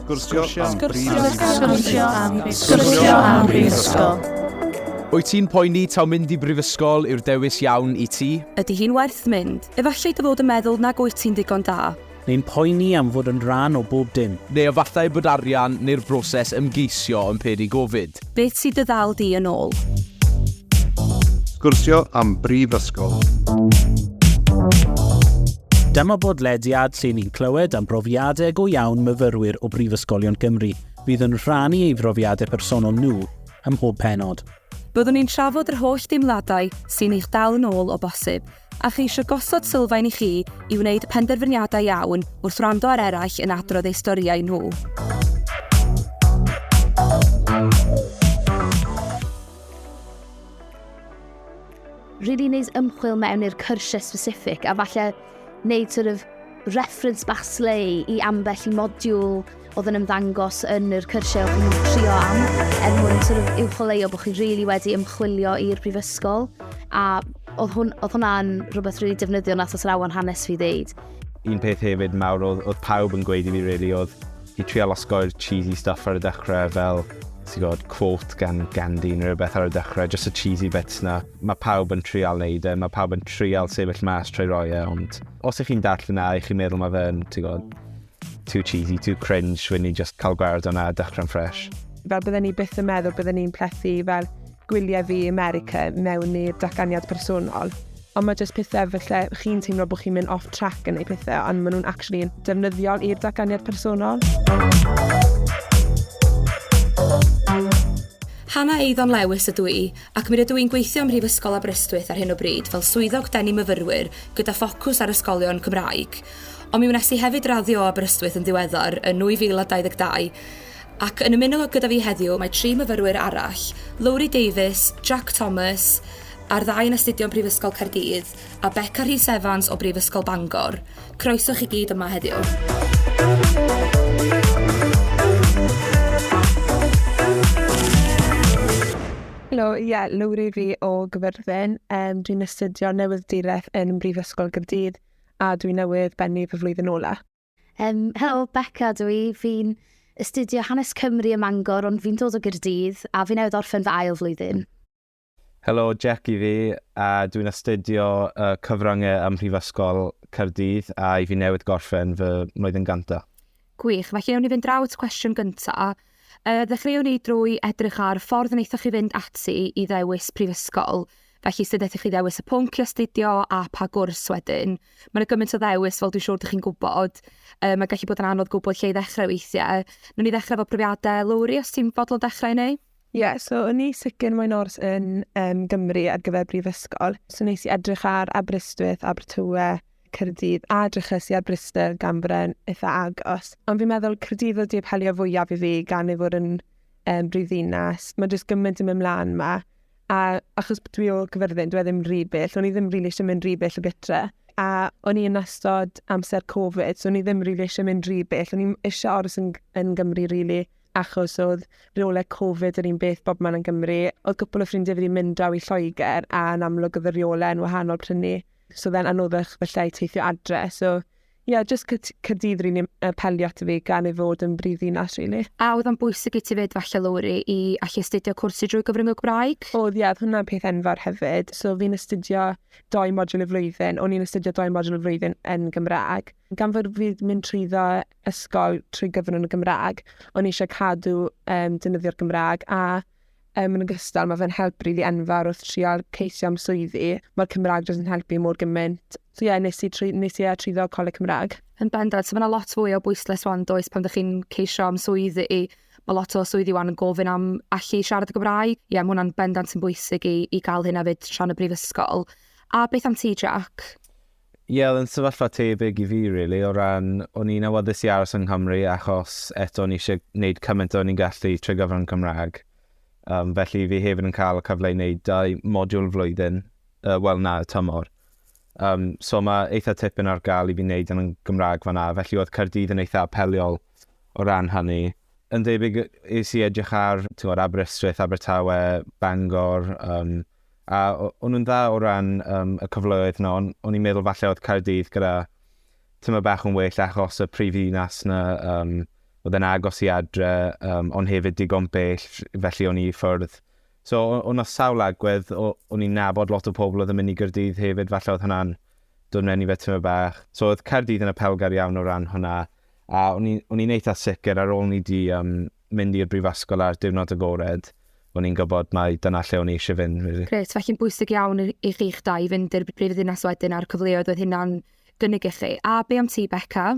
Sgwrsio am Sgwrsio am Sgwrsio am Brifysgol. Wyt ti'n poeni taw mynd i brifysgol yw'r dewis iawn i ti? Ydy hi'n werth mynd? Efallai dy fod yn meddwl nag wyt ti'n ddigon da. Neu'n poeni am fod yn rhan o bob dim. Neu efallai bod arian neu'r broses ymgeisio yn peri gofid. Beth sydd dy ddal di yn ôl? Sgwrsio am brifysgol. Dyma bodlediad lle ni'n clywed am brofiadau go iawn myfyrwyr o brifysgolion Cymru fydd yn rhannu ei brofiadau personol nhw ym mhob penod. Byddwn ni'n trafod yr holl deimladau sy'n eich dal yn ôl o bosib, A cheisio gosod sylfaen i chi i wneud penderfyniadau iawn wrth wrando ar eraill yn adrodd eu storïau nhw. Really wneud ymchwil mewn i'r cyrsiau specific a falle wneud sort of reference basleu i ambell i modiwl oedd yn ymddangos yn yr cyrsiau oedd yn trio am, er mwyn sort of uwcholeuo bod chi really wedi ymchwilio i'r brifysgol, a oedd, hwn, oedd hwnna'n rhywbeth really defnyddiol nath os rawan hanes fi ddeud. Un peth hefyd mawr oedd, oedd pawb yn gweud i fi really oedd i trial osgoi'r cheesy stuff ar y dechrau fel ti'n gwybod, quote gan Gandhi neu rhywbeth ar y dechrau, just y cheesy bits na. Mae pawb yn trial neud e, mae pawb yn trial sefyll mas trwy roi e, ond os ych chi'n darllen na, ych chi'n meddwl mae fe'n, ti'n gwybod, Too cheesy, too cringe, rwy'n ni just cael gweld o'na a dychryn ffresh. Fel bydden ni byth yn meddwl bydden ni'n plethu fel gwyliau fi America mewn i'r datganiad personol. Ond mae jyst pethau felly chi'n teimlo bod chi'n mynd off track yn ei pethau, ond maen nhw'n actually yn defnyddiol i'r datganiad personol. Hannah Eiddon Lewis ydw i, ac mi rydw i'n gweithio ym Mhrifysgol Aberystwyth ar hyn o bryd fel swyddog denu myfyrwyr gyda ffocws ar ysgolion Cymraeg. Ond mi wnes i hefyd raddio o Aberystwyth yn ddiweddar yn 2022 ac yn ymuno gyda fi heddiw mae tri myfyrwyr arall, Lowri Davies, Jack Thomas, a'r ddau yn astudio yn Prifysgol Caerdydd, a Beca Rhys Evans o Brifysgol Bangor. Croeso chi gyd yma heddiw. Helo, ie, yeah, Lowri fi o Gyfyrddin. Um, dwi'n astudio newydd direth yn Brifysgol Gyrdydd. a dwi newydd bennu fy flwyddyn ola. Um, helo, Becca dwi. Fi'n astudio hanes Cymru ym Mangor, ond fi'n dod o Gyrdydd, a fi newydd orffen fy ail flwyddyn. Helo, Jack i fi, a dwi'n astudio uh, cyfryngau ym Mhrifysgol Cyrdydd, a i fi newydd gorffen fy mlwyddyn ganta. Gwych, felly ewn ni fynd draw at cwestiwn gyntaf. Yy, ddechreuwn i drwy edrych ar ffordd wnaethoch chi fynd ati i ddewis prifysgol. Felly, sut wnaethoch chi ddewis y pwnc i astudio a pa gwrs wedyn? Mae yna gymaint o ddewis, fel dwi'n siŵr dych chi'n gwybod. Yy, mae gallu bod yn anodd gwybod lle i ddechrau weithiau. Nw'n i ddechrau efo profiadau. Lowri, os ti'n fodlon dechrau neu? Ie, yeah, so o'n i sicr moyn ors yn um, Gymru ar gyfer brifysgol. So nes i edrych ar Aberystwyth, Abertawe, Caerdydd a dryches i ar Bryste gan bod e'n eitha agos. Ond fi'n meddwl Caerdydd oedd di apelio fwyaf i fi gan ei fod yn um, brifddinas. Mae jyst gymaint yn mynd mlaen yma. A achos bod dwi o gyfyrddin, dwi e ddim rhy bell. O'n i ddim rili really eisiau mynd rhy bell o gytre. A o'n i yn ystod amser Covid, so o'n i ddim rili really eisiau mynd rhy bell. O'n i eisiau aros yn, yn Gymru rili. Really achos oedd rheolau Covid yr un beth bob man yn Gymru. Oedd gwpl o ffrindiau fi wedi mynd draw i Lloegr a yn amlwg oedd y rheolau yn wahanol prynu so fe'n anoddach felly i teithio adre. So, ie, yeah, just Cyrdydd rili really, uh, pelio ato fi gan ei fod yn brif ddinas, rili. Really. A oedd o'n bwysig i ti fyd falle, Lowri, i allu astudio cwrs i drwy gyfrwng y Gymraeg? Oedd, ie, yeah, oedd hwnna'n peth enfawr hefyd. So, fi'n astudio doi modwl y flwyddyn, o'n i'n astudio doi modwl y flwyddyn yn Gymraeg. Gan fod fi'n mynd trwy ddo ysgol trwy gyfrwng y Gymraeg, o'n i eisiau cadw um, dynyddio'r Gymraeg, a Yn ogystal, mae fe'n help rili enfawr wrth trial ceisio am swyddi. Mae'r Cymraeg jyst yn helpu mor gymaint. So ie, nes i trwy, nes i trwyddo Coleg Cymraeg. Yn bendant, so mae yna lot fwy o bwyslais wan does pan ydych chi'n ceisio am swyddi. Mae lot o swyddi wan yn gofyn am allu siarad y Gymraeg. Ie, mae hwnna'n bendant yn bwysig i, i gael hyn hefyd tra'n y brifysgol. A beth am ti, Jack? Ie oedd e'n sefyllfa tebyg i fi rili o ran o'n i'n awyddus i aros yng Nghymru achos eto o'n i eisiau gwneud cymaint o'n i'n gallu trwy gyfrwng Cymraeg. Um, felly fi hefyd yn cael y cyfle i wneud dau modiwl flwyddyn, uh, wel na, y tymor. Um, so mae eitha tipyn ar gael i fi wneud yn Gymraeg fanna, felly oedd Caerdydd yn eitha apeliol o ran hynny. Yn debyg i si edrych ar tywod, Aberystwyth, Abertawe, Bangor, um, A o'n nhw'n dda o ran um, y cyfleoedd yna, ond o'n i'n meddwl falle oedd Caerdydd gyda tymor bach yn well achos y prif ddinas yna, um, oedd yn agos i adre, um, ond hefyd digon bell, felly o'n i ffwrdd. So, o'n o sawl agwedd, o'n i'n nabod lot o pobl oedd yn mynd i Gyrdydd hefyd, falle oedd hwnna'n dod mewn i fe tymor bach. So, oedd Caerdydd yn y pelgar iawn o ran hwnna, a o'n i'n eitha sicr ar ôl ni di um, mynd i'r brifysgol ar diwrnod agored, o'n i'n gwybod mai dyna lle o'n i eisiau fynd. Really. Gret, felly'n bwysig iawn i chi'ch dau fynd i'r brif ddinas wedyn a'r cyfleoedd oedd hynna'n gynnig i chi. A be am ti, Becca?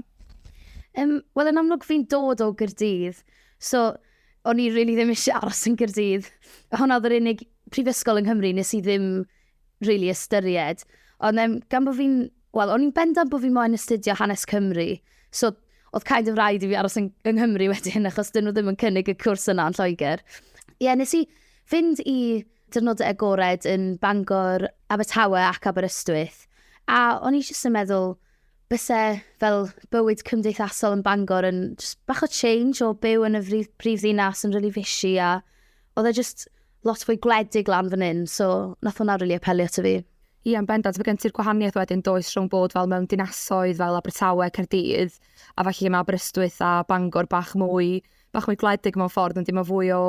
Um, Wel, yn amlwg fi'n dod o Gyrdydd, so o'n i really ddim eisiau aros yn Gyrdydd. Hwna oedd yr unig prifysgol yng Nghymru nes i ddim rili ystyried. Ond um, gan bod fi'n... Wel, o'n i'n bendant bod fi moyn astudio hanes Cymru. So, oedd kind of rhaid i fi aros yn, yng Nghymru wedyn, achos dyn nhw ddim yn cynnig y cwrs yna yn Lloegr. Ie, yeah, nes i fynd i dyrnodau agored yn Bangor, Abertawe ac Aberystwyth. A o'n i jyst yn meddwl, byse fel bywyd cymdeithasol yn Bangor yn just bach o change o byw yn y brif ddinas yn rili really fishy a oedd e just lot fwy gwledig lan fan hyn, so nath hwnna rili apelio ato fi. Ie, yn bendant, mae gen ti'r gwahaniaeth wedyn does rhwng bod fel mewn dinasoedd fel Abertawe, Caerdydd, a falle lle mae Aberystwyth a Bangor bach mwy, bach mwy gwledig mewn ffordd, ond dim o fwy o...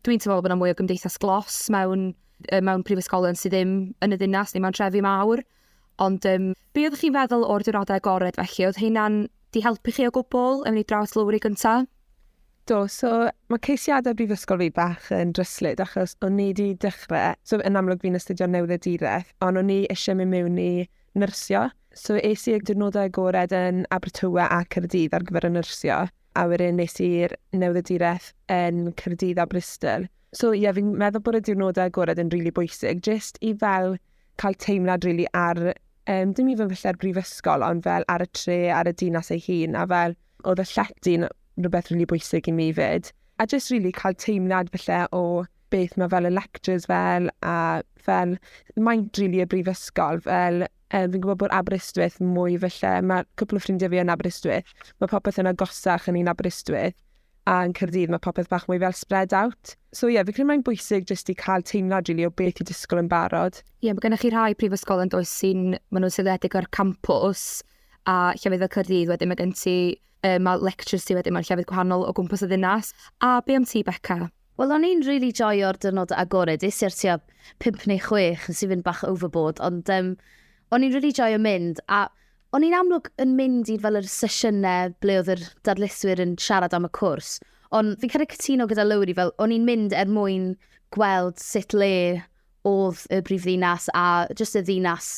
Dwi'n teimlo bod yna mwy o gymdeithas glos mewn, mewn prifysgolion sydd ddim yn y ddinas neu mewn trefi mawr. Ond um, be oeddech chi'n feddwl o'r diwrnodau agored felly? Oedd hynna'n di helpu chi o gwbl yn mynd i draws Lowri gyntaf? Do, so mae ceisiadau brifysgol fi bach yn dryslyd achos o'n i wedi dechrau, so yn amlwg fi'n astudio newyddiaduraeth, ond o'n i eisiau mynd mewn i nyrsio. So es i'r diwrnodau agored yn Abertawe a Caerdydd ar gyfer y nyrsio, a wedyn nes i'r newyddiaduraeth yn Caerdydd a Bristol. So ie, yeah, fi'n meddwl bod y diwrnodau agored yn rili really bwysig, jyst i fel cael teimlad rili really ar, um, dim even falle'r brifysgol, ond fel ar y tre, ar y dinas ei hun, a fel Oedd y llety'n rhywbeth rili bwysig i mi 'fyd. A jyst rili cael teimlad falle o beth mae fel y lectures fel a fel maint rili y brifysgol fel um, fi'n gwybod bod Aberystwyth mwy felly, mae cwpl o ffrindiau fi yn Aberystwyth, mae popeth yn agosach yn un Aberystwyth, a yn Cyrdydd mae popeth bach mwy fel spread out. So ie, yeah, fi credu mae'n bwysig jyst i cael teimlad rili really, o beth i disgwyl yn barod. Ie, yeah, mae gennych chi rhai prifysgol yn does sy'n, maen nhw'n seiliedig ar campus, a llefydd fel Caerdydd wedyn mae gen ti, uh, mae lectures ti wedyn mewn llefydd gwahanol o gwmpas y ddinas. A be am ti, Becca? Wel, o'n i'n really joio'r dyrnod agored, is i'r tua 5 neu 6, nes i fynd bach overboard, ond um, o'n i'n really joio mynd, a o'n i'n amlwg yn mynd i fel yr sesiynau ble oedd yr darlithwyr yn siarad am y cwrs, ond fi'n cael ei cytuno gyda Lowry, fel o'n i'n mynd er mwyn gweld sut le oedd y brifddinas a jyst y ddinas.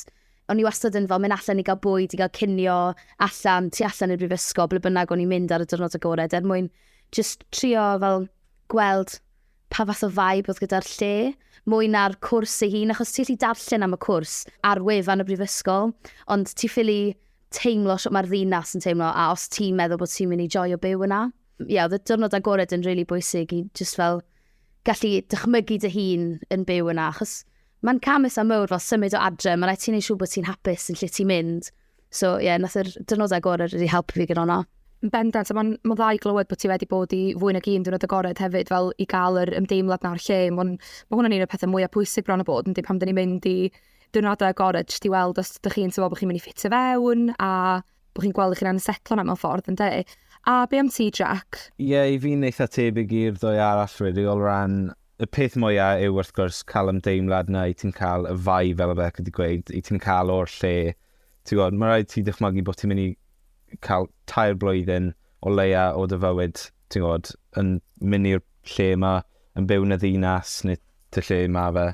O'n i wastad yn fel mynd allan i gael bwyd, i gael cinio allan, tu allan i'r brifysgol, ble bynnag o'n i'n mynd ar y dyrnod agored, er mwyn jyst trio fel gweld pa fath o vibe oedd gyda'r lle, mwy na'r cwrs ei hun, achos ti allu darllen am y cwrs ar wefan y brifysgol, ond ti ffili teimlo sut mae'r ddinas yn teimlo, a os ti'n meddwl bod ti'n mynd i joio byw yna. Ie, yeah, oedd y dyrnod agored yn rili really bwysig i just fel gallu dychmygu dy hun yn byw yna, achos mae'n cam eitha mawr fel symud o adre, mae'n rhaid ti'n ei siw bod ti'n hapus yn lle ti'n mynd. So, ie, yeah, nath yr dynodau gorau wedi helpu fi gyda hwnna. Bendant, a mae'n ma dda i glywed bod ti wedi bod i fwy nag un diwrnod agored hefyd, fel i gael yr ymdeimlad nawr lle. Mae ma hwnna'n un o'r pethau mwyaf pwysig bron o bod, ynddi, pan dyn ni'n mynd i diwrnodau agored, jyst i weld os ydych chi'n teimlo bod chi'n mynd i ffitio fewn, a bod chi'n gweld eich hunan yn setlo yna mewn ffordd, ynde? A be am ti, Jack? Ie, yeah, i fi'n eitha tebyg i'r ddwy arall, really, o ran y peth mwyaf yw wrth gwrs cael ymdeimlad na i ti'n cael y fai fel y bec wedi gweud, i ti'n cael o'r lle. Ti'n gwybod, mae rhaid ti dychmygu bod ti'n mynd i cael tair blwyddyn o leia o dy fywyd, ti'n gwybod, yn mynd i'r lle yma, yn byw yn y ddinas neu dy lle yma fe.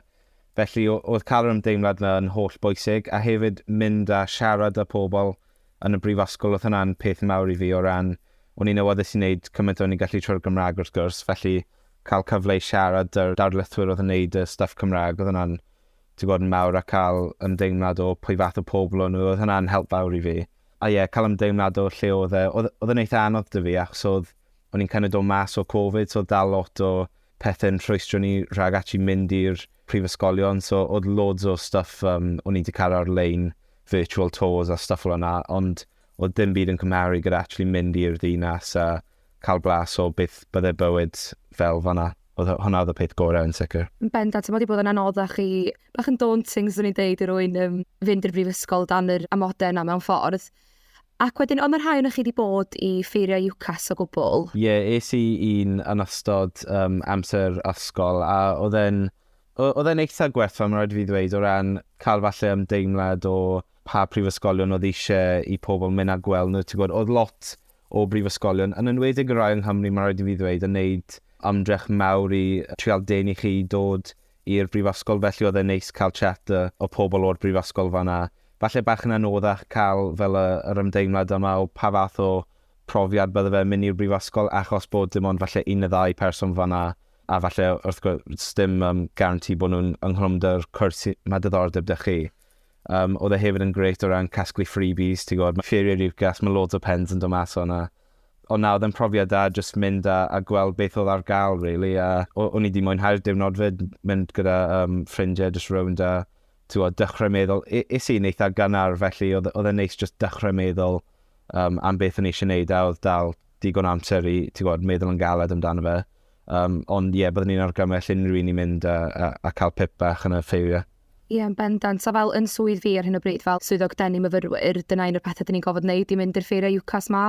Felly, oedd cael yr ymdeimlad yna yn holl bwysig, a hefyd mynd a siarad â pobl yn y brifysgol, oedd hwnna'n peth mawr i fi o ran, o'n i'n awyddus i wneud cymaint o'n i'n gallu trwy'r Gymraeg wrth gwrs, felly cael cyfle i siarad 'da'r darlithwyr oedd yn wneud y stwff Cymraeg, oedd hwnna'n, ti'n gwybod, yn mawr, a cael ymdeimlad o pwy fath o pobl o'n nhw, oedd hwnna'n help fawr i fi. A ie, cael ymdeimlad o lle oedd e, oedd oedd e'n eitha' anodd 'da fi achos oedd o'n i'n kind of dod mas o Covid, so oedd dal lot o pethe'n rhwystro ni rhag actually mynd i'r prifysgolion, so oedd loads o stuff um, o'n i wedi cael ar-lein, virtual tours a stuff fel yna, ond oedd dim byd yn cymharu gyda actually mynd i'r ddinas a cael blas o beth byddai bywyd fel fanna. Oedd hwnna oedd y peth gorau yn sicr. Yn bendant, mae wedi bod yn anoddach i, bach yn daunting, swn i'n deud, i rwy'n um, fynd i'r brifysgol dan yr amodau yna mewn ffordd. Ac wedyn, oedd 'na rhai ohonoch chi 'di bod i ffeirio UCAS o gwbl? Ie, es i un yn ystod um, amser ysgol, a oedd e'n oedd e'n eitha gwerth, mae'n rhaid i fi ddweud, o ran cael falle ymdeimlad o pa prifysgolion oedd eisiau i pobl mynd a gweld nhw. Ti'n gwybod, oedd lot o brifysgolion, yn enwedig y rai yng Nghymru, mae'n rhaid i fi ddweud, yn wneud ymdrech mawr i trial denu chi i dod i'r brifysgol felly oedd e'n neis cael chat y o pobl o'r brifysgol fan'na. Falle bach yn anoddach cael fel y yr ymdeimlad yma o pa fath o profiad bydde fe mynd i'r brifysgol achos bod dim ond falle un neu ddau person fan'na a falle wrth gwrs dim um, guarantee bod nhw'n yng nghlwmdr cwrs mae diddordeb 'da chi. Um, oedd e hefyd yn grêt o ran casglu freebies, ti'n gwybod, mae Ffeiriau Lucas, mae loads o pens yn dod mas o'na. Ond na, oedd e'n profiad da jyst mynd a, a gweld beth oedd ar gael, really. A o'n i wedi mwynhau'r diwrnod fyd, mynd gyda um, ffrindiau jyst rownd a tywod, dechrau meddwl. Is i'n eitha gynnar, felly oedd, oedd e'n neis jyst dechrau meddwl um, am beth o'n i eisiau gwneud a oedd dal digon amser i tywod, meddwl yn galed amdano fe. Um, ond ie, yeah, byddwn ni'n argymell unrhyw un i mynd a, a, a cael pip bach yn y ffeiriau. Ie, yn bendant, a fel yn swydd fi ar hyn o bryd fel Swyddog Denu Myfyrwyr, dyna un o'r pethe 'dyn ni'n gorfod neud i mynd i'r ffeiriau UCAS 'ma,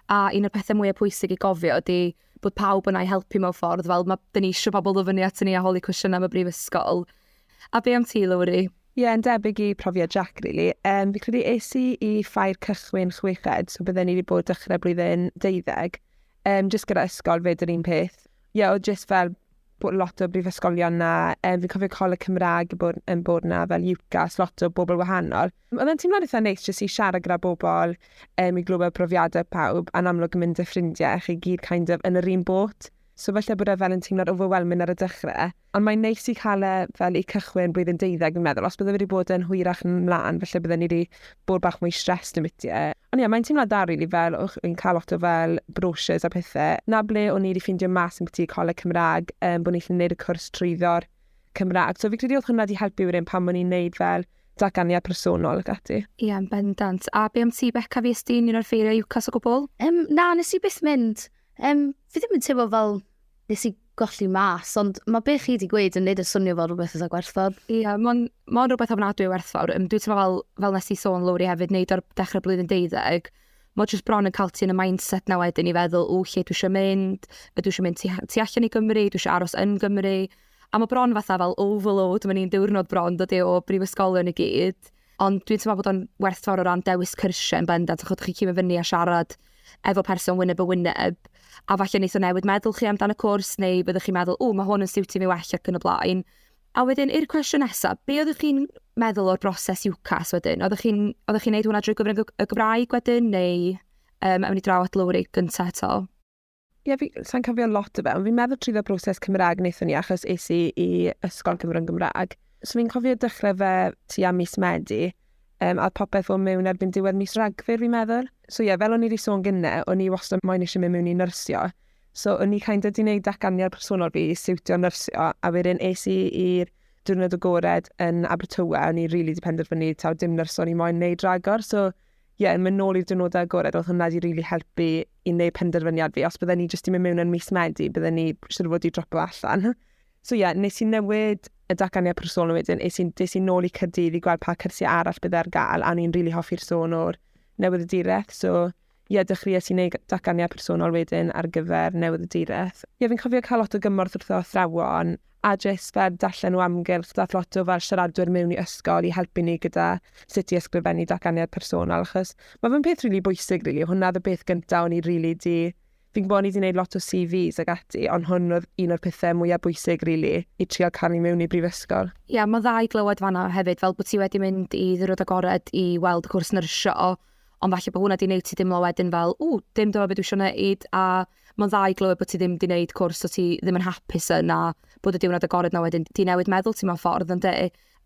a un o'r pethe mwya pwysig i gofio ydi bod pawb yna i helpu mewn ffordd, fel ma'... 'dyn ni isio pobl ddod fyny atyn ni a holi cwestiyna am y Brifysgol. A be am ti, Lowri? Ie, yn debyg i profiad Jac rili. Yym, fi credu es i i Ffair Cychwyn chweched, so bydden i 'di bod dechre blwyddyn deuddeg, yym, jyst gyda ysgol 'fyd yr un peth. Ie, o'dd jyst fel bod lot o brifysgolion na, um, fi'n cofio Coleg Cymraeg yn bod, yn bod na fel UCAS, lot o bobl wahanol. Oedd e'n teimlo'n eitha neis jyst i siarad gyda bobl, um, i glywed profiadau pawb, a'n amlwg yn mynd â ffrindiau, chi gyd kind of yn yr un bot. So falle bod e fel yn teimlo'n overwhelming ar y dechrau. Ond mae'n neis i cael e fel i cychwyn blwyddyn deuddeg, fi'n meddwl. Os bydde wedi bod yn hwyrach yn mlaen, falle bydde ni wedi bod bach mwy stressed yn biti e. Ond ie, mae'n teimlad dda rili fel o'ch chi'n cael lot o fel brochures a pethe. 'Na ble o'n i wedi ffindio mas ambiti Coleg Cymraeg, yym, bo' ni'n gallu neud y cwrs trwyddo'r Cymraeg. So fi'n credu o'dd hwnna 'di helpu wedyn pan o'n i'n neud fel datganiad personol ac ati. Ie, yn bendant. A be' am ti Beca, fues di'n un o'r ffeiriau UCAS o gwbwl? Yym, na, nes i byth mynd. Yym, fi ddim yn teimlo fel nes i golli mas, ond mae be chi wedi gweud yn neud y swnio fel rhywbeth eitha gwerthfawr. Ie, yeah, mae'n ma rhywbeth ofnadwy o werthfawr. Um, dwi'n teimlo fel, fel nes i sôn lowri hefyd, neud o'r dechrau blwyddyn deuddeg, mae jyst bron yn cael ti yn y mindset na wedyn i feddwl, o lle dwi eisiau mynd, dwi eisiau mynd tu, tu allan i Gymru, dwi eisiau aros yn Gymru. A mae bron fatha fel overload, mae'n un diwrnod bron dod i o brifysgolion i gyd. Ond dwi'n teimlo bod o'n werthfawr o ran dewis cyrsiau yn bendant, achos ydych chi'n cymryd fyny a siarad efo person wyneb y wyneb, a falle wneud o newid meddwl chi amdano cwrs, neu byddwch chi'n meddwl, o, mae hwn yn siwtio mi well ac yn y blaen. A wedyn, i'r cwestiwn nesaf, be oeddech chi'n meddwl o'r broses UCAS wedyn? Oeddech chi'n oeddech chi'n neud hwnna drwy gyfrwng y Gymraeg wedyn, neu um, awn ni draw at Lowri gyntaf eto? Ie, fi, sa'n cofio lot o fe, ond fi'n meddwl trwy dda broses Cymraeg wnaethon ni, achos es i i ysgol Cymru'n Gymraeg. So fi'n cofio dechrau fe ti am mis Medi, um, a popeth o'n mewn erbyn diwedd mis Ragfyr, fi'n meddwl. So ie, yeah, fel o'n i wedi sôn gynne, o'n i wastad moyn eisiau mynd mewn i nyrsio. So o'n i kind of di wneud datganiad personol fi i siwtio nyrsio, a wedyn es i i'r diwrnod o gored yn Abertawe, o'n i rili really di penderfynu taw dim nyrsio o'n i moyn wneud ragor. So ie, yeah, mynd nôl i'r diwrnodau agored, oedd hwnna wedi rili really helpu i wneud penderfyniad fi. Os bydden ni jyst i mynd mewn yn mis Medi, bydden ni siwr fod i dropo allan. So ie, yeah, nes i newid y datganiad personol wedyn, nes i'n des i nôl i Cyrdydd i gweld pa cyrsiau arall bydd ar gael, a ni'n rili really hoffi'r sôn o'r newydd y direth. So ie, yeah, dechreuais i wneud datganiad personol wedyn ar gyfer newydd y direth. Ie, yeah, fi'n cofio cael lot o gymorth wrth o athrawon, a jyst fel darllen o amgylch daeth lot o fel siaradwyr mewn i ysgol i helpu ni gyda sut i ysgrifennu datganiad personol achos mae fe'n peth rili bwysig rili, hwnna oedd y peth gyntaf o'n i rili di fi'n gwybod o'n i wedi gwneud lot o CVs ag ati ond hwn oedd un o'r pethau mwyaf bwysig rili i trial cael ni mewn i brifysgol. Ie yeah, mae dda i glywed fanna hefyd fel bod ti wedi mynd i ddyrwyd agored i weld y cwrs nyrsio ond falle bod hwnna wedi gwneud ti dimlo wedyn fel ww dim dyma beth dwi eisiau gwneud a Mae'n dda i glywed bod ti ddim 'di neud cwrs so ti ddim yn hapus yn a bod y diwrnod agored 'na wedyn 'di newid meddwl ti mewn ffordd, yn de?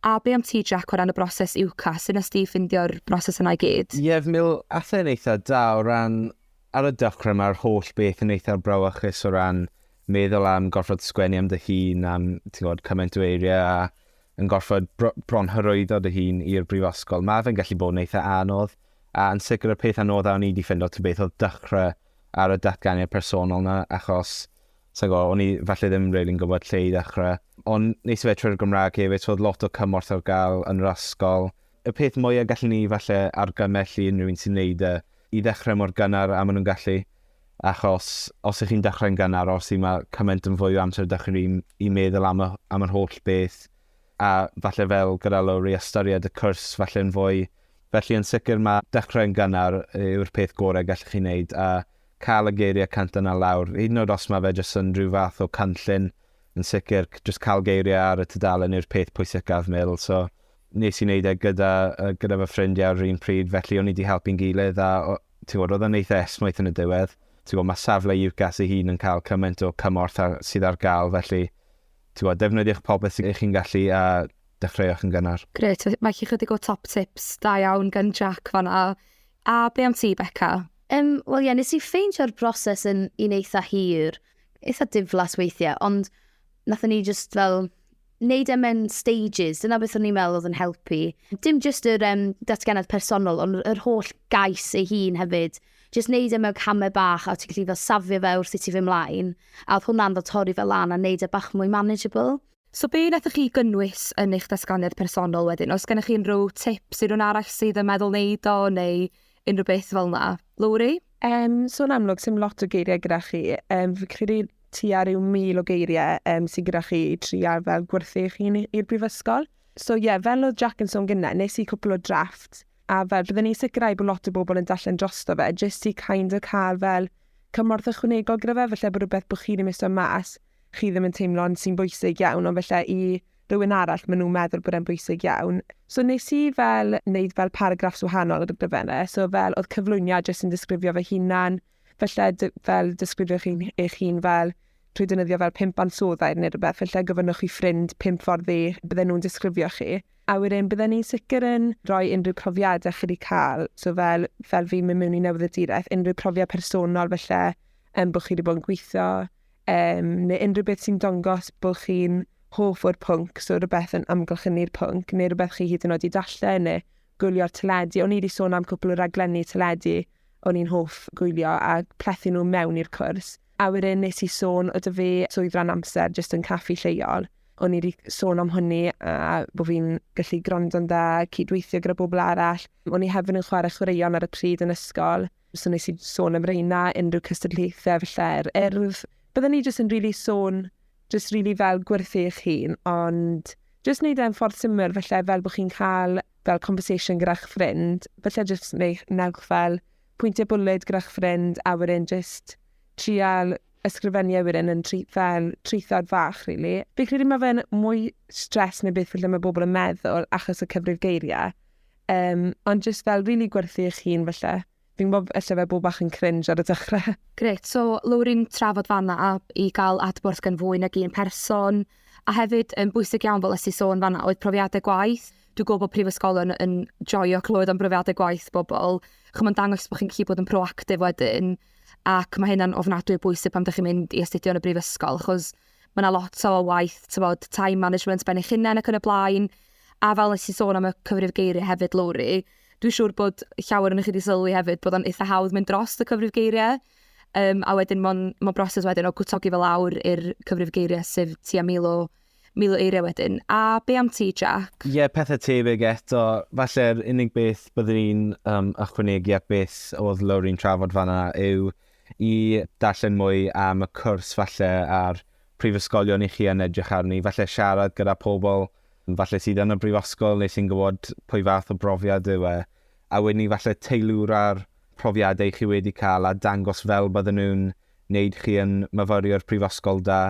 A be am ti Jac o ran y broses UCAS, sut nes di ffindio'r broses yna i gyd? Ie mi ath e'n eitha da o ran ar y dechre ma'r holl beth yn eitha brawychus o ran meddwl am gorfod sgwennu am dy hun am ti'n gwybod cymaint o eiriau a yn gorfod bro bron hyrwyddo dy hun i'r brifysgol. Mae fe'n gallu bod yn eitha anodd a yn sicr y peth anodda o'n i wedi ffindo ta beth oedd dechrau ar y datganiad personol na, achos, sa'n gwybod, o'n i falle ddim rili'n gwybod lle i ddechrau. Ond nes i fe trwy'r Gymraeg hefyd, so oedd lot o cymorth ar gael yn yr ysgol. Y peth mwyaf gallwn ni falle argymell i unrhyw un sy'n neud e, i ddechrau mor gynnar a maen nhw'n gallu, achos os ych chi'n dechrau'n gynnar, os i mae cymaint yn fwy o amser da chi i meddwl am, y, am yr holl beth, a falle fel gyda Lowri ystyried y cwrs falle yn fwy. Felly yn sicr mae dechrau'n gynnar yw'r peth gorau gallwch chi wneud a cael y geiriau canta na lawr, hyd yn oed os mae fe jyst yn rhyw fath o canllun, yn sicr, jyst cael geiriau ar y tudalen yw'r peth pwysicaf, Mil. So, nes i wneud e gyda, gyda fy ffrindiau ar yr un pryd, felly o'n i wedi helpu'n gilydd a ti'n gwybod, oedd yn eitha esmwyth yn y diwedd. Ti'n gwybod, mae safle UCAS ei hun yn cael cymaint o cymorth ar, sydd ar gael, felly Tibod, defnyddiwch popeth sy'n eich chi'n gallu a dechreuwch yn gynnar. Gret, mae chi chydig o top tips da iawn gan Jack fanna. A be am ti, Becca? Um, Wel ie, yeah, nes i ffeindio'r broses yn un eitha hir, eitha diflas weithiau, ond nath ni just fel wneud e mewn stages, dyna beth o'n i'n meddwl oedd yn helpu. Dim just yr um, datganiad personol, ond yr holl gais ei hun hefyd. Jyst neud e mewn camau bach a o't ti'n gallu fel safio fe wrth i ti fyn' mlaen, a odd hwnna'n fel torri fe lan a neud e bach mwy manageable. So be' nathoch chi gynnwys yn eich datganiad personol wedyn? O's gennych chi unrhyw tips i rywun arall sydd yn meddwl neud o neu unrhyw beth fel 'na? Lowri? Yym so yn amlwg sim lot o geirie gyda chi, yym fi'n credu tua ryw 1000 o geirie yym sy gyda chi i trial fel gwerthu eich hun i i'r brifysgol. So ie fel odd Jac yn sôn gynne nes i cwpwl o drafts A fel bydden ni'n sicrhau bod lot o bobl yn darllen drosto fe, jyst i kind of cael fel cymorth ychwanegol gyda fe, felly bod rhywbeth bod chi ddim eisiau mas, chi ddim yn teimlo'n sy'n bwysig iawn, ond felly i rhywun arall maen nhw'n meddwl bod e'n bwysig iawn. So nes i fel wneud fel paragraffs wahanol gyda fe yna, so fel oedd cyflwyniad jyst yn disgrifio fy hunan, Felly, fel disgrifioch chi'n eich hun fel trwy dynyddio fel pimp ansoddair neu rhywbeth, felly gyfynnwch chi ffrind pimp ffordd ddi, bydden nhw'n disgrifio chi. A wedyn, bydden ni'n sicr yn rhoi unrhyw profiadau chi wedi cael, so fel, fel fi'n mynd mewn i newyddaduraeth, unrhyw profiad personol felly, um, bod chi wedi bod yn gweithio, um, neu unrhyw beth sy'n dongos bod chi'n hoff o'r pwnc, so rhywbeth yn amgylchynu'r pwnc, neu rhywbeth chi hyd yn oed i dallen, neu gwylio'r teledu. O'n i wedi sôn am cwpl o raglenni teledu o'n i'n hoff gwylio a plethu nhw mewn i'r cwrs. A wedyn nes i sôn o dy fe swydd ran amser jyst yn caffi lleol. O'n i wedi sôn am hwnni a bod fi'n gallu gwrando'n dda, cydweithio gyda bobl arall. O'n i hefyd yn chwarae chwaraeon ar y pryd yn ysgol, so nes i sôn am reina, unrhyw cystadlaethau falle yr urdd. Byddwn ni jyst yn rili really sôn jyst rili fel gwerthu eich hun, ond jyst wneud e'n ffordd syml, felly fel bod chi'n cael fel conversation gyda'ch ffrind, felly jyst neu, newch fel pwyntiau bwled gyda'ch ffrind, a wedyn jyst trial ysgrifennu a wedyn yn tri, fel trithod fach, really. Fi'n credu mae fe'n mwy stres neu beth felly mae bobl yn meddwl achos y cyfrif geiriau, um, ond jyst fel rili really gwerthu eich hun felly. Fi'n gwybod ella fe bod bach yn cringe ar y dechrau. Grêt, so Lowri'n trafod fan'na a i gael adborth gan fwy nag un person, a hefyd yn bwysig iawn fel es ti sôn fan'na oedd profiadau gwaith. Dwi'n gwybod bod prifysgolion yn joio clywed am brofiadau gwaith bobl, chimod mae'n dangos bod chi'n gallu bod yn proactif wedyn, ac mae hynna'n ofnadwy o bwysig pan ydych chi'n mynd i astudio yn y brifysgol, achos mae yna lot o waith, tybod, time management ben eich hunain ac yn y blaen, a fel nes i sôn am y cyfrif geiriau hefyd, Lowri, Dwi'n siŵr bod llawer yn chi wedi sylwi hefyd bod o'n eitha hawdd mynd dros y cyfrif geiriau, um, a wedyn mae'n ma broses wedyn o gwtogi fel awr i'r cyfrif geiriau sydd ti a mil o, mil o eiriau wedyn. A be am ti, Jack? Ie, yeah, pethau tebyg eto. Falle'r unig beth byddwn i'n um, ychwanegu at beth oedd Lowry'n trafod fanna yw i darllen mwy am y cwrs falle a'r prifysgolion i chi yn edrych arni. Falle siarad gyda pobl Falle sydd yn y brifysgol neu sy'n gwybod pwy fath o brofiad yw e, a wedyn ni falle teilwra'r profiadau chi wedi cael a dangos fel bydden nhw'n wneud chi yn myfyriwr prifysgol da.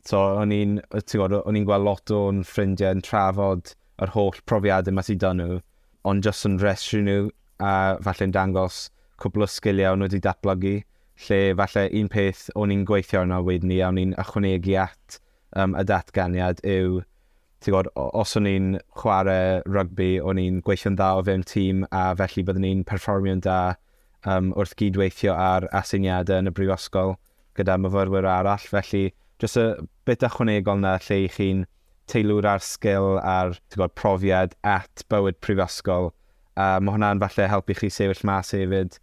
So o'n i'n, ti'n gwybod, o'n i'n gweld lot o'n ffrindiau yn trafod yr holl profiadau ma sy 'da nhw, ond jyst yn rhestru nhw a falle'n dangos cwpl o sgiliau o'n nhw wedi datblygu, lle falle un peth o'n i'n gweithio arno wedyn ni a o'n i'n ychwanegu at Yym, y datganiad yw, ti'n gwybod, o- os o'n i'n chwarae rygbi, o'n i'n gweithio'n dda o fewn tîm, a felly byddwn ni'n perfformio'n da um, wrth gyd-weithio ar aseiniadau yn y brifysgol gyda myfyrwyr arall. Felly, jyst y bit ychwanegol na lle i chi'n teilwr ar sgil a'r ti'n gwybod, profiad at bywyd prifysgol. A mae hwnna'n falle helpu chi sefyll mas hefyd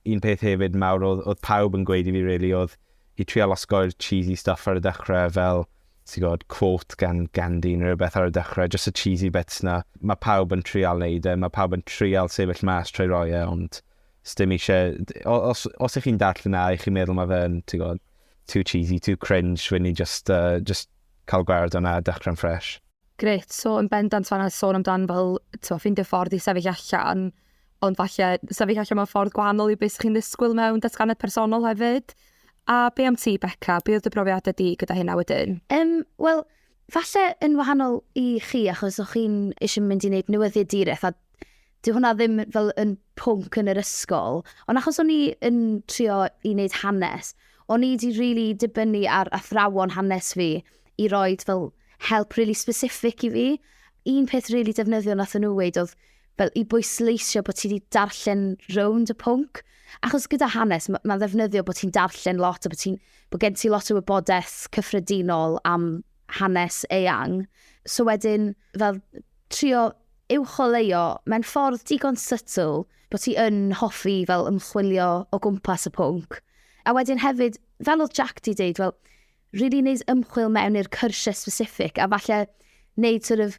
Un peth hefyd mawr oedd, oedd pawb yn gweud i fi really oedd i trial osgoi'r cheesy stuff ar y dechrau fel ti'n gwybod, quote gan Gandhi neu rhywbeth ar y dechrau, just y cheesy bits na. Mae pawb yn trial neud e, mae pawb yn trial sefyll mas trwy roi e, ond stym eisiau... Os, os ych chi'n darllen na, ych chi'n meddwl mae fe'n, ti'n gwybod, too cheesy, too cringe, fy ni just, uh, just cael gwared o'na a dechrau'n ffresh. Gret, so yn bendant fanna sôn amdan fel, ti'n ffindio ffordd i sefyll allan, ond falle sefyll allan mewn ffordd gwahanol i beth chi'n ddisgwyl mewn datganiad personol hefyd. A be am ti, Becca? Be oedd dy brofiad ydy gyda hynna wedyn? Um, Wel, falle yn wahanol i chi, achos o'ch chi'n eisiau mynd i wneud newyddiad direth, a Dwi hwnna ddim fel yn pwnc yn yr ysgol, ond achos o'n i yn trio i wneud hanes, o'n i wedi rili really dibynnu ar athrawon hanes fi i roi fel help really specific i fi. Un peth really defnyddiol nath nhw weud oedd fel i bwysleisio bod ti wedi darllen rownd y pwnc. Achos gyda hanes, mae'n ma ddefnyddio bod ti'n darllen lot a bod, ti, bod gen ti lot o wybodaeth cyffredinol am hanes eang. So wedyn, fel trio uwcholeuo mewn ffordd digon sytl bod ti yn hoffi fel ymchwilio o gwmpas y pwnc. A wedyn hefyd, fel oedd Jack di dweud, fel, Rili wneud ymchwil mewn i'r cyrsiau specific a falle wneud sort of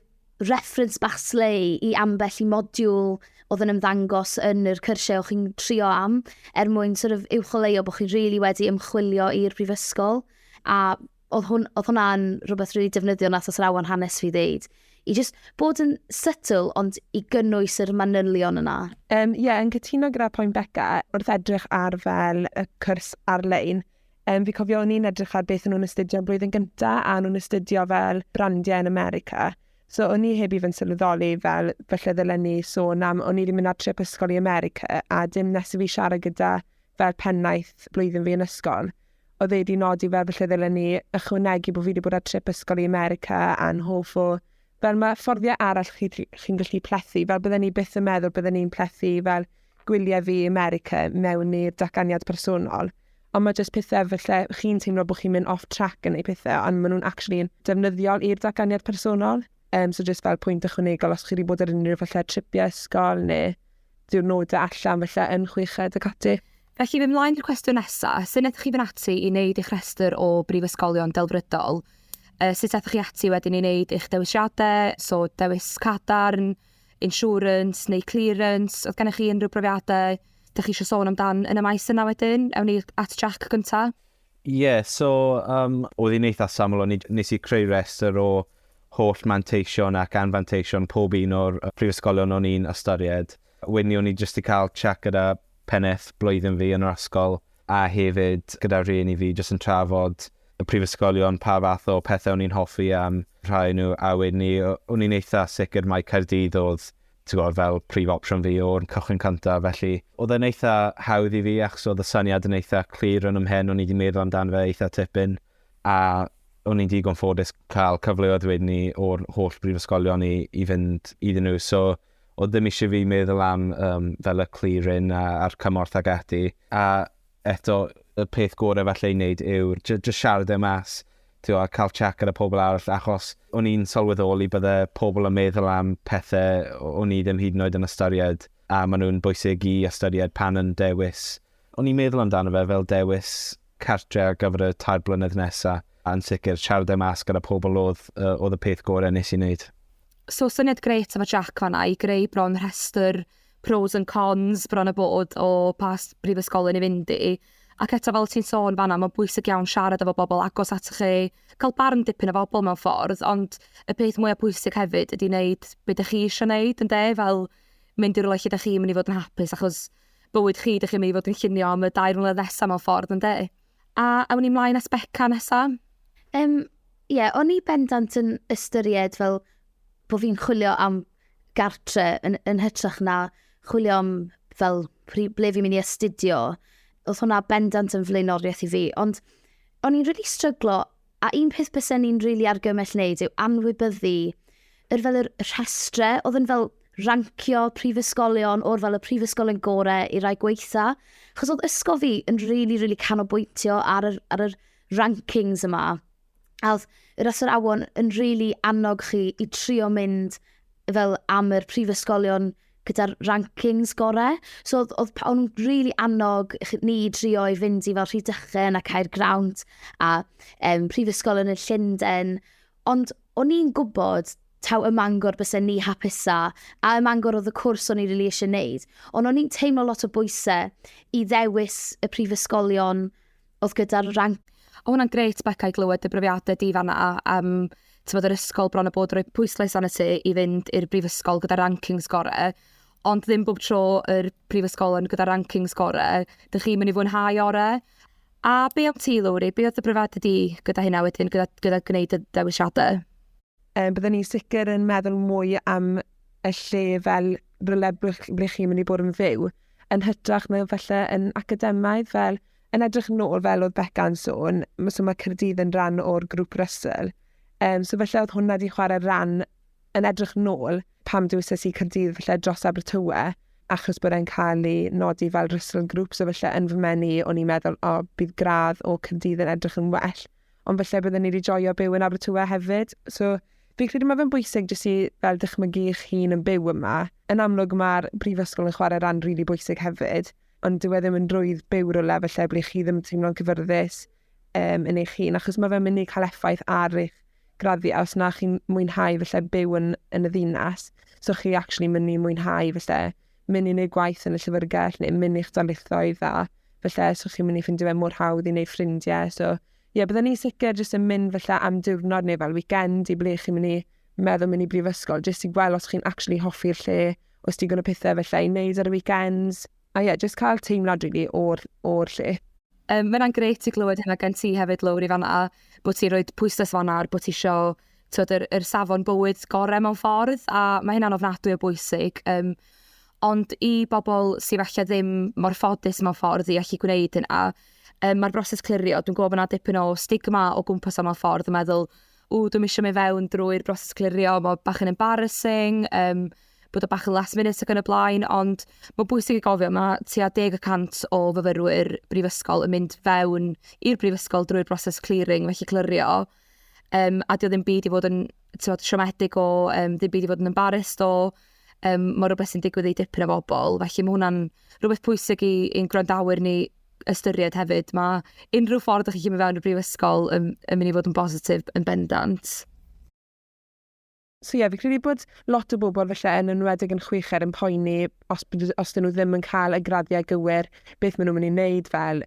reference bach slei i ambell i modiwl oedd yn ymddangos yn yr cyrsiau o'ch chi'n trio am, er mwyn sort of uwcholeuo bod chi'n rili wedi ymchwilio i'r brifysgol. A oedd hwn, oedd hwnna'n rhywbeth rili really defnyddiol nath athrawon hanes fi ddeud. I just bod yn subtle ond i gynnwys yr manylion yna. Ie, um, yeah, yn cytuno gyda pwynt Becca wrth edrych ar fel y cwrs ar-lein. Um, fi cofio o'n i'n edrych ar beth o'n nhw'n astudio yn blwyddyn gyntaf, a nhw'n astudio fel brandiau yn America. So o'n i heb i fy'n sylweddoli fel felly ddylen ni sôn am, o'n i wedi mynd ar trip ysgol i America a dim nes i fi siarad gyda fel pennaeth blwyddyn fi yn ysgol. Oedd e wedi nodi fel felly ddylen ni ychwanegu bod fi wedi bod ar trip ysgol i America a'n hoff o Fel mae fforddiau arall chi, chi'n gallu plethu, fel bydden ni byth yn meddwl bydden ni'n plethu fel gwyliau fi America mewn i'r datganiad personol. Ond mae jyst pethau felly chi'n teimlo bod chi'n mynd off track yn ei pethau, ond maen nhw'n actually yn defnyddiol i'r datganiad personol. Um, so jyst fel pwynt ychwanegol os chi wedi bod ar unrhyw felly tripiau ysgol neu diwrnodau allan felly yn chweched ac ati. Felly, mynd mlaen i'r cwestiwn nesaf, sut wnaethoch chi fynd ati i wneud eich rhestr o brifysgolion delfrydol? Uh, sut aethoch chi ati wedyn i wneud eich dewisiadau, so dewis cadarn, insurance neu clearance, oedd gennych chi unrhyw brofiadau da chi eisiau sôn amdan yn y maes yna wedyn? Ewn ni at Jack gyntaf. Ie, yeah, so um, oedd hi'n eitha saml, o'n nes i creu restr o holl manteision ac anfanteision pob un o'r prifysgolion o'n i'n ystyried. Wedyn o'n i jyst 'di cael chat gyda pennaeth blwyddyn fi yn yr ysgol a hefyd gyda rhieni fi jyst yn trafod y prifysgolion, pa fath o pethau o'n i'n hoffi am rhai nhw a wedyn ni, o'n i'n eitha sicr mai Caerdydd oedd gwybod, fel prif opsiwn fi o'r cychwyn cyntaf, felly oedd e'n eitha hawdd i fi achos oedd y syniad yn eitha clir yn ymhen, o'n i wedi meddwl amdano fe eitha tipyn a o'n i'n digon ffodus cael cyfleoedd wedyn ni o'r holl brifysgolion i, i fynd iddyn nhw. So, O ddim isie fi meddwl am yym fel y clearing a a'r cymorth ag ati a eto y peth gore falle i neud yw'r jy- jyst siarad e mas t'wo' a ca'l chat gyda pobl arall achos o'n i'n sylweddoli bydde pobl yn meddwl am pethe o- o'n i ddim hyd yn oed yn ystyried a ma' nw'n bwysig i ystyried pan yn dewis O'n i'n meddwl amdano fe fel dewis cartre ar gyfer y tair blynedd nesa, a yn sicr, siarad e mas gyda pobl o'dd o'dd y peth gore nes i neud. So syniad grêt efo Jac fanna i greu bron rhestr pros and cons bron a bod o pa brifysgolyn i fynd i, ac eto fel o' ti'n sôn fanna ma'n bwysig iawn siarad efo bobl agos atoch chi, ca'l barn dipyn o fobl mewn ffordd, ond y peth mwya pwysig hefyd ydi neud be' dych chi isio neud ynde? Fel mynd i rwle lle dych chi'n mynd i fod yn hapus achos bywyd chi, dych chi'n mynd i fod yn llunio am y dair mlynedd nesaf mewn ffordd, yn de? A awn ni mlaen at Beca nesaf? Um, ie, yeah, o'n i bendant yn ystyried fel bod fi'n chwilio am gartre yn, yn hytrach na chwilio am fel ble fi'n mynd i astudio. Oedd hwnna bendant yn flaenoriaeth i fi, ond o'n i'n rili really stryglo A un peth bysen ni'n rili argymell wneud yw anwybyddu yr fel yr rhestre oedd yn fel rancio prifysgolion o'r fel y prifysgolion gorau i rai gweitha. Chos oedd ysgol fi yn rili, really, rili really canolbwyntio ar yr, ar yr rankings yma. A oedd yr athrawon yn rili really annog chi i trio mynd fel am yr prifysgolion gyda'r rankings gore. So oedd, oedd, o'n really annog ni drio i fynd i fel Rhydychen a Caer Grawnt a um, prifysgol yn y Llundain. Ond o'n i'n gwybod taw y mangor bys ni hapusa a y mangor oedd y cwrs o'n i'n really eisiau gwneud. Ond o'n i'n teimlo lot o bwysau i ddewis y prifysgolion oedd gyda'r rang. O hwnna'n grêt Becca i glywed dy brofiadau di fanna am tymod yr ysgol bron a bod roi pwyslais arno ti i fynd i'r brifysgol gyda rankings gore. Ond ddim bob tro yr prifysgol yn gyda rankings gore. Dych chi'n mynd i fwynhau ore. A be am ti, Lowri? Be oedd dy brofiadau di gyda hynna wedyn, gyda, gyda gwneud y dewisiadau? Um, byddwn ni'n sicr yn meddwl mwy am y lle fel rhywle ble chi'n mynd i bod yn fyw, yn hytrach na felly yn academaidd, fel yn edrych yn ôl fel oedd Becca'n sôn, so mae Cyrdydd yn rhan o'r grŵp Russell. Um, so felly oedd hwnna wedi chwarae rhan yn edrych yn ôl pam dywysys i Cyrdydd felly dros Abertawe, achos bod e'n cael ei nodi fel Russell Group, so felly yn fy menu o'n i'n meddwl, o, bydd gradd o Cyrdydd yn edrych yn well. ond felly byddwn ni wedi joio byw yn Abertawe hefyd. So, fi'n credu mae fe'n bwysig jyst i fel dychmygu eich hun yn byw yma. Yn amlwg mae'r brifysgol yn chwarae ran rili really bwysig hefyd, ond dyw e ddim yn rwydd byw rhywle felly ble chi ddim yn teimlo'n cyfyrddus um, yn eich hun, achos mae fe'n mynd i cael effaith ar eich graddiau os na chi'n mwynhau felly byw yn, yn y ddinas. So chi actually mynd i mwynhau felly mynd i wneud gwaith yn y llyfrgell neu mynd i'ch darlithoedd a felly so chi'n mynd i ffindio fe mor hawdd i wneud ffrindiau. So ie, yeah, bydden ni'n sicr jyst yn mynd felly am diwrnod neu fel weekend i ble chi'n mynd i meddwl mynd i brifysgol, jyst i gweld os chi'n actually hoffi'r lle, os ti'n gwneud pethau felly i wneud ar y weekends. A ie, yeah, jyst cael teimlad rili really, o'r, or lle. Um, Mae'n greit i glywed hynna gen ti hefyd, Lowri, fan a bod ti'n rhoi pwysles fanna ar bod ti eisiau t'od yr yr safon bywyd gore mewn ffordd a mae hynna'n ofnadwy o bwysig um, ond i bobl sydd falle ddim mor ffodus mewn ffordd i allu gwneud hynna, um, mae'r broses clirio, dwi'n gwybod bod yna dipyn o stigma o gwmpas am mewn ffordd yn meddwl, ww, dwi'n eisiau mynd fewn drwy'r broses clirio, mae bach yn embarrassing, um, bod o bach yn last minute ac yn y blaen, ond mae'n bwysig i gofio, mae tua 10% o fyfyrwyr brifysgol yn mynd fewn i'r brifysgol drwy'r broses clearing, felly clirio, Um, a di o ddim byd i fod yn tywed, siomedig o, um, ddim byd i fod yn embarrassed o, um, mae rhywbeth sy'n digwydd i dipyn o bobl. Felly mae hwnna'n rhywbeth pwysig i, i'n gwrandawyr ni ystyried hefyd. Mae unrhyw ffordd ydych chi'n mynd fewn y brifysgol yn, yn mynd i fod yn bositif yn bendant. So ie, yeah, fi credu bod lot o bobl felly yn enwedig yn chwicher yn poeni os, os dyn nhw ddim yn cael y graddiau gywir, beth maen nhw'n mynd i wneud fel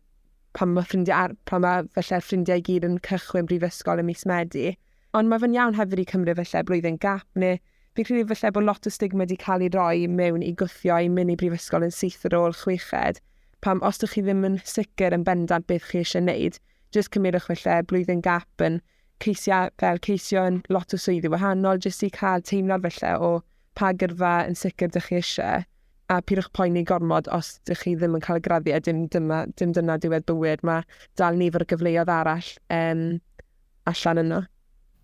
pan mae ffrindiau, ar, pan mae felly ffrindiau i gyd yn cychwyn brifysgol y mis Medi. Ond mae fe'n iawn hefyd i cymryd felly blwyddyn gap neu fi credu felly bod lot o stigma wedi cael ei roi mewn i gwthio i mynd i brifysgol yn syth ar ôl chweched. Pam os ydych chi ddim yn sicr yn bendant beth chi eisiau gwneud, jyst cymryd eich felly blwyddyn gap yn ceisiau fel ceisio yn lot o swyddi wahanol jyst i cael teimlad felly o pa gyrfa yn sicr dych chi eisiau, a pidwch poeni gormod os dych chi ddim yn cael y graddiau, dim, dyma, dim dyna diwedd bywyd, mae dal nifer o gyfleoedd arall um, allan yno.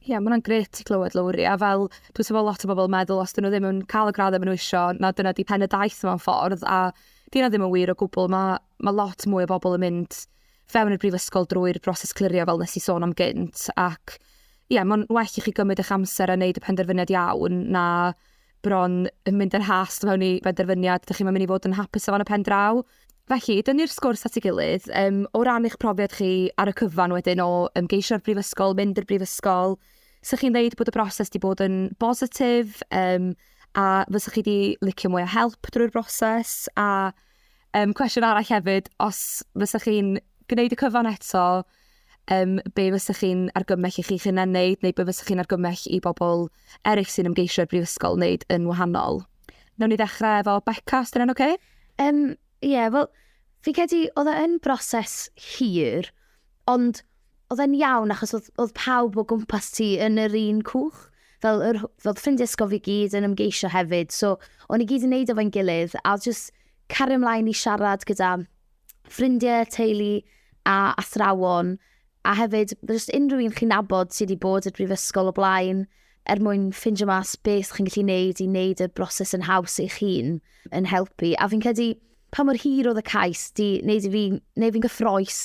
Ie, yeah, mae hwnna'n gret i glywed, Lowri, a fel dwi'n teimlo lot o bobl yn meddwl os dyn nhw ddim yn cael y graddau maen nhw eisiau, na dyna di pen y daith mewn ffordd, a dyna ddim yn wir o gwbl, mae, mae lot mwy o bobl yn mynd fewn y brifysgol drwy'r broses clirio fel nes i sôn am gynt, ac ie, yeah, mae'n well i chi gymryd eich amser a wneud y penderfyniad iawn na bron yn mynd yn hast mewn i benderfyniad, ydych chi'n mynd i fod yn hapus efo yn y pen draw. Felly, dynnu'r sgwrs at ei gilydd, um, o ran eich profiad chi ar y cyfan wedyn o ymgeisio'r brifysgol, mynd i'r brifysgol, sych chi'n dweud bod y broses wedi bod yn bositif, um, a fysych chi wedi licio mwy o help drwy'r broses, a Um, cwestiwn arall hefyd, os fysa chi'n gwneud y cyfan eto, um, be fysa chi'n argymell i chi'ch hunan wneud, neu be fysa chi'n argymell i bobl eraill sy'n ymgeisio i'r brifysgol wneud yn wahanol? Nawn ni ddechrau efo Becca, os dyna'n oce? Okay? Um, ie, yeah, wel, fi credu oedd e yn broses hir, ond oedd e'n iawn achos oedd, oedd pawb o gwmpas ti yn yr un cwch. Fel, yr, fel ffrindiau ysgol fi gyd yn ymgeisio hefyd. So, o'n i gyd yn neud efo'n gilydd a oedd just cario ymlaen i siarad gyda ffrindiau, teulu a athrawon. A hefyd, just unrhyw un chi'n nabod sydd wedi bod i'r brifysgol o blaen er mwyn ffindio mas beth chi'n gallu neud i wneud y broses yn haws eich hun yn helpu. A fi'n credu pa mor hir oedd y cais di wneud i fi, neu fi'n gyffroes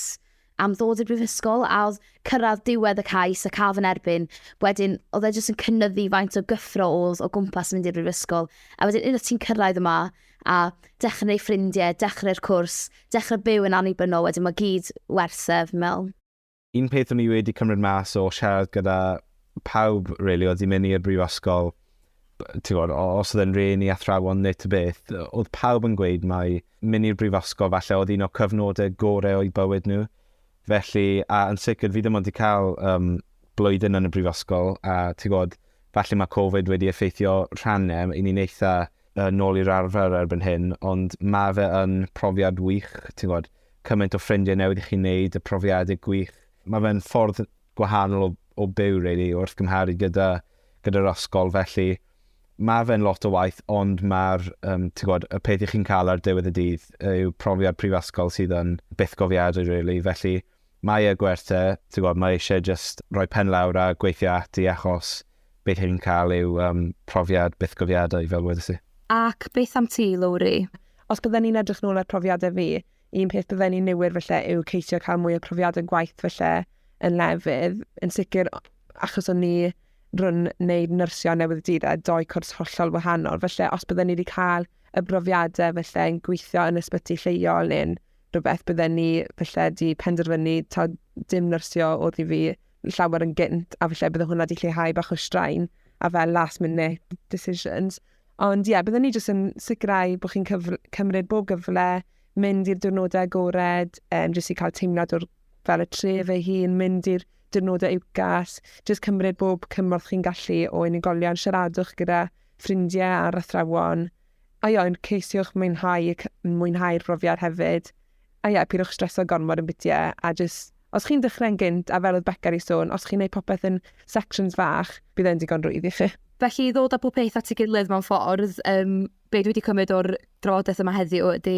am ddod i'r brifysgol a oedd cyrraedd diwedd y cais a cael fy nerbyn, wedyn oedd e jyst yn cynnyddu faint o gyffro oedd o gwmpas mynd i'r brifysgol. A wedyn unwaith ti'n cyrraedd yma a dechrau ei ffrindiau, dechrau'r cwrs, dechrau byw yn annibynnol, wedyn mae gyd werth e, fi'n meddwl. Un peth o'n i wedi cymryd mas o siarad gyda pawb, really, oedd i mynd i'r brifysgol, ti'n gwybod, os oedd e'n rhen i athrawon neu ty beth, oedd pawb yn gweud mae mynd i'r brifysgol falle oedd un o cyfnodau gorau o'i bywyd nhw. Felly, a yn sicr, fi ddim ond wedi cael um, blwyddyn yn y brifysgol, a ti'n gwybod, falle mae Covid wedi effeithio rhannau, i ni'n eitha uh, nôl i'r arfer erbyn hyn, ond mae fe yn profiad wych, ti'n gwybod, cymaint o ffrindiau newydd i chi'n neud, y profiadau gwych. Mae fe'n ffordd gwahanol o o byw rili wrth gymharu gyda gyda'r ysgol felly ma' fe'n lot o waith ond ma'r um, ti'n gwybod, y peth i chi'n cael ar diwedd y dydd yw profiad prifysgol sydd yn byth gofiadau rili felly mae e gwerth e, ti'n gwybod, mae eisiau just rhoi pen lawr a gweithio ati achos beth chi'n cael yw um, profiad byth gofiadau fel wedi si. Ac beth am ti, Lowri? Os byddwn ni'n edrych nôl ar profiadau fi, un peth bydden ni'n niwyr felly yw ceisio cael mwy o profiad yn gwaith felly yn lefydd. Yn sicr, achos o'n ni rhwng wneud nyrsio newydd dydd a doi cwrs hollol wahanol. Felly, os bydden ni wedi cael y brofiadau felly yn gweithio yn ysbyty lleol neu'n rhywbeth bydden ni felly wedi penderfynu ta dim nyrsio oedd i fi llawer yn gynt a felly bydde hwnna wedi lleihau bach o straen a fel last minute decisions. Ond ie, yeah, byddwn ni jyst yn sicrhau bod chi'n cymryd bob gyfle, mynd i'r diwrnodau agored, um, jyst i cael teimlad o'r fel y tref ei hun, mynd i'r diwrnodau uwgas, jyst cymryd bob cymorth chi'n gallu o unigolion, siaradwch gyda ffrindiau ar athrawon, a io'n ceisiwch mwynhau, mwynhau'r brofiad hefyd. A ie, pidwch streso gormod yn bytie, a jyst, os chi'n dechrau'n gynt, a fel oedd Becca wedi sôn, os chi'n neud popeth yn sections fach, bydd e'n digon rwydd i chi. Felly i ddod â pob peth at ei gilydd mewn ffordd, um, be dwi wedi cymryd o'r drafodaeth yma heddiw ydy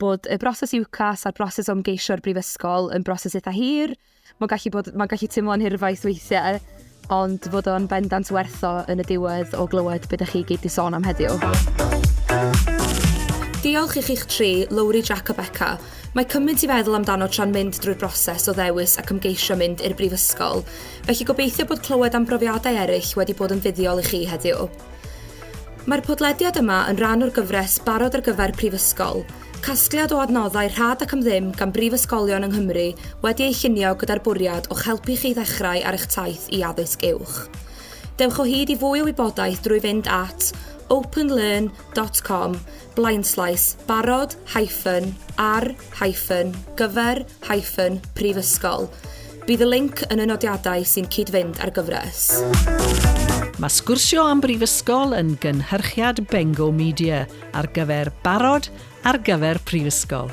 bod y broses UCAS a'r broses o ymgeisio'r brifysgol yn broses eitha hir, Mae'n gallu bod... mae'n gallu teimlo'n hirfaith weithiau, ond fod o'n bendant werth o yn y diwedd o glywed be dych chi i gyd 'di sôn am heddiw. Diolch i chi'ch tri, Lowri, Jac a Beca. Mae cymaint i feddwl amdano tra'n mynd drwy'r broses o ddewis ac ymgeisio mynd i'r Brifysgol, felly gobeithio bod clywed am brofiadau eraill wedi bod yn fuddiol i chi heddiw. Mae'r podlediad yma yn rhan o'r gyfres Barod ar gyfer Prifysgol, Casgliad o adnoddau rhad ac am ddim gan brifysgolion yng Nghymru wedi ei llunio gyda'r bwriad o'ch helpu chi i ddechrau ar eich taith i addysg uwch. Dewch o hyd i fwy o wybodaeth drwy fynd at openlearn.com blaenslaes barod hyphen ar hyphen gyfer hyphen prifysgol. Bydd y linc yn y nodiadau sy'n cyd-fynd â'r gyfres. Mae sgwrsio am brifysgol yn gynhyrchiad Bengo Media. ar gyfer barod ar gyfer prifysgol.